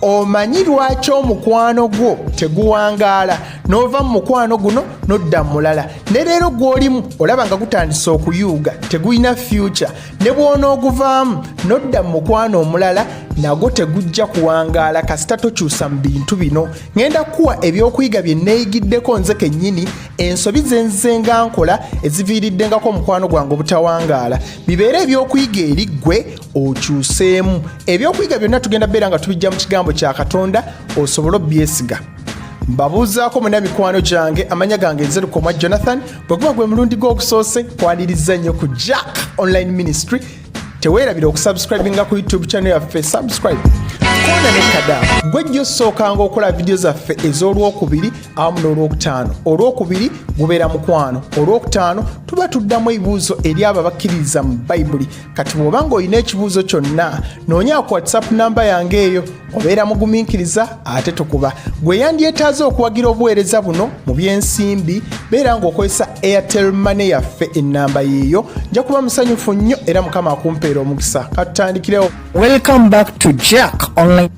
omanyi lwaki omukwano gwo teguwangaala n'ova mu mukwano guno n'odda mulala ne leero gw'olimu olaba nga gutandise okuyuuga tegulina fyuca ne bw'onooguvaamu n'odda mu mukwano omulala nagwo tegujja kuwangaala kasita tokyusa mu bintu bino ŋenda kukuwa ebyokuyiga bye nneeyigiddeko nze kennyini ensobi ze nze nga nkola eziviiriddengako omukwano gwange obutawangaala bibeere ebyokuyiga eri ggwe okyuseemu ebyokuyiga byonna tugenda beera nga tubijja mu kigambo kya katonda osobole obyesiga mbabuuzaako muna mikwano gyange amanya gange nzerukoma jonathan bwe guba gwe mulundi gw'okusoose kwaniriza nnyo ku jack online ministry teweerabira okusubscribinga ku youtube channel yaffe subscribe kona nekada gwe jjo osookanga okola vidiyo zaffe ez'olwokubiri awamu n'olwokutaano olwokubiri gubeera mukwano olwokutaano tuba tuddamu ebibuuzo eri abo abakkiririza mu bayibuli kati bw'oba ng'olina ekibuuzo kyonna noonya ku whatsapp namba yange eyo obeera mugumiikiriza ate tukuba gwe yandyetaaze okuwagira obuweereza buno mu by'ensimbi beera ng'okozesa airtel mane yaffe ennamba yiiyo nja kuba musanyufu nnyo era mukama akumpeera omukisa katutandikirewo welcome back to jack online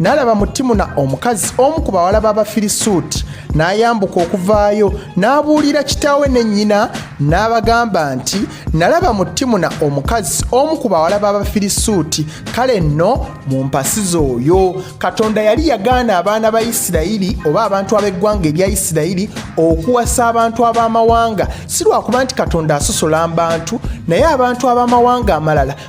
n'alaba mu timuna omukazi omu ku bawala b'abafirisuuti n'ayambuka okuvaayo n'abuulira kitaawe ne nnyina n'abagamba nti nalaba mu timuna omukazi omu ku bawala b'abafirisuuti kale nno mu mpasi z'oyo katonda yali yagaana abaana ba isirayiri oba abantu ab'eggwanga erya isirayiri okuwasa abantu ab'amawanga si lwakuba nti katonda asosola mbantu naye abantu ab'amawanga amalala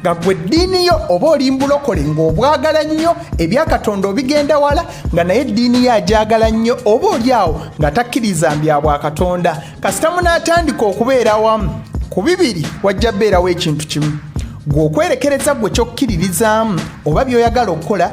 nga gwe eddiini yo oba oli mbulokole ng'obwagala nnyo ebya katonda obigenda wala nga naye eddiini yo agyagala nnyo oba oli awo nga takkiriza mbya bwa katonda kasita munaatandika okubeera wamu ku bibiri wajja beerawo ekintu kimu gwe okwerekereza gwe kyokkiririzaamu oba by'oyagala okukola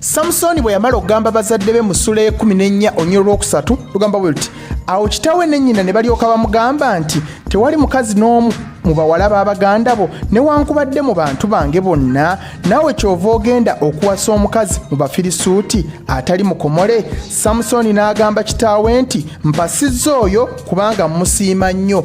samusooni bwe yamala okugamba bazadde be mu ssula y'ekumi n'ennya onyo olwokusatu lugamba bwe luti awo kitaawe ne nnyina ne balyoka bamugamba nti tewali mukazi n'omu mu bawala b'abaganda bo newankubadde mu bantu bange bonna naawe kyova ogenda okuwasa omukazi mu bafirisuuti atali mukomole samusooni n'agamba kitaawe nti mpasizza oyo kubanga mmusiima nnyo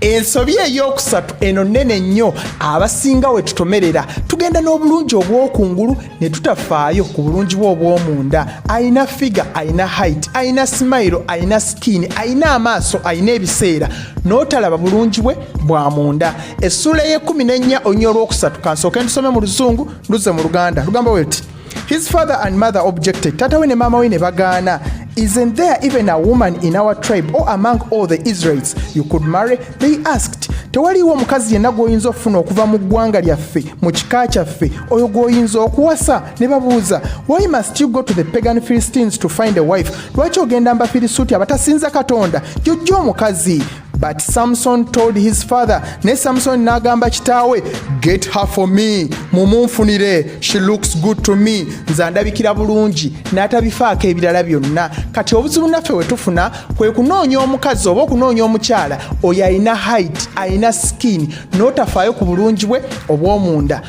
ensobi ey'okusatu eno nnene nnyo abasinga we tutomerera tugenda n'obulungi obw'okungulu ne tutafaayo ku bulungi bwe obw'omunda alina figa alina haiti alina simayiro alina sikiini alina amaaso alina ebiseera n'otalaba bulungi bwe bwa munda essuula ey'ekumi n'ennya olunya olw'okusatu kansooke ndusome mu luzungu nduze mu luganda lugamba weti His father and mother objected. Tata we ne mama we ne bagaana. Isn't there even a woman in our tribe or among all the Israelites you could marry? They asked. Tewaliwo omukazi yenna gw'oyinza okufuna okuva mu ggwanga lyaffe, mu kika kyaffe, oyo gw'oyinza okuwasa ne babuuza. Why must you go to the pagan Philistines to find a wife? Lwaki ogenda mbafirisuuti abatasinza Katonda? Jojja omukazi. but samson told his father ne samson n'agamba kitaawe get her for me mumunfunire she looks good to me nze andabikira bulungi n'atabifaako ebirala byonna kati obuzibu naffe we tufuna kwe kunoonya omukazi oba okunoonya omukyala oyo alina height alina skin n'otafaayo ku bulungi bwe obw'omunda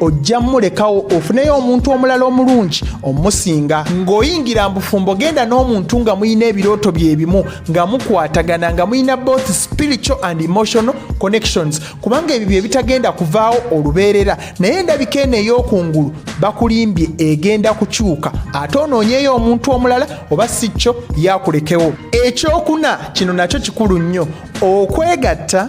ojja mulekawo ofuneyo omuntu omulala omulungi omusinga ng'oyingira mbufumbo genda n'omuntu nga mulina ebirooto byebimu nga mukwatagana nga mulina both spiritual and emotional connections kubanga ebyo bye bitagenda kuvaawo olubeerera naye endabika eno ey'okungulu bakulimbye egenda kukyuka ate onoonyeyo omuntu omulala oba si kyo yakulekewo ekyokuna kino nakyo kikulu nnyo okwegatta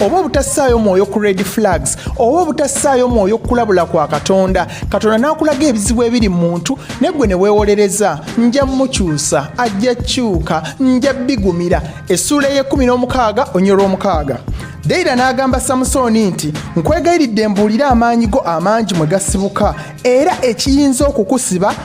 oba obutassaayo mwoyo ku red flags oba obutassaayo mwoyo kukulabula kwa katonda katonda n'akulaga ebizibu ebiri mu muntu negwe ne weewolereza nja mukyusa ajja kyuka nja bigumira essuula ey'ekumi n'omukaaga onyolwa omukaaga dayira n'agamba samusooni nti nkwegayiridde mbuulire amaanyi go amangi mwe gasibuka era ekiyinza okukusiba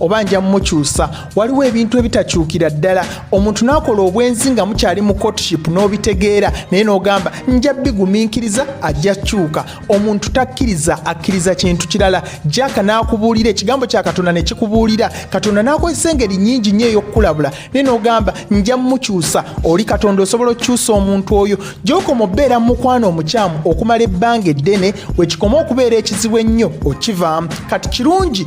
oba nja mukyusa waliwo ebintu ebitakyukira ddala omuntu n'akola obwenzi nga mukyali mu courtship n'obitegeera naye n'ogamba nja bigumiikiriza ajja kyuka omuntu takkiriza akkiriza kintu kirala jaka n'akubuulira ekigambo kya katonda ne kikubuulira katonda n'akozesa engeri nyingi nnyo ey'okukulabula naye n'ogamba nja mukyusa oli katonda osobola okukyusa omuntu oyo gyokoma obeera mu mukwano omukyamu okumala ebbanga eddene wekikoma okubeera ekizibu ennyo okivaamu kati kirungi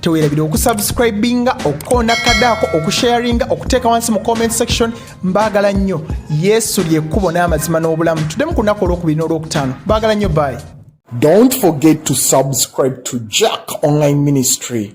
tewerabira okusubscribinga okukonda kadaako okusharinga okuteeka wansi mu comment section mbaagala nnyo yesu lyekkubo n'amazima n'obulamu tuddemu ku lunaku olwokubiri n'olwokutaano baagala nnyo bayi Don't forget to subscribe to Jack Online Ministry.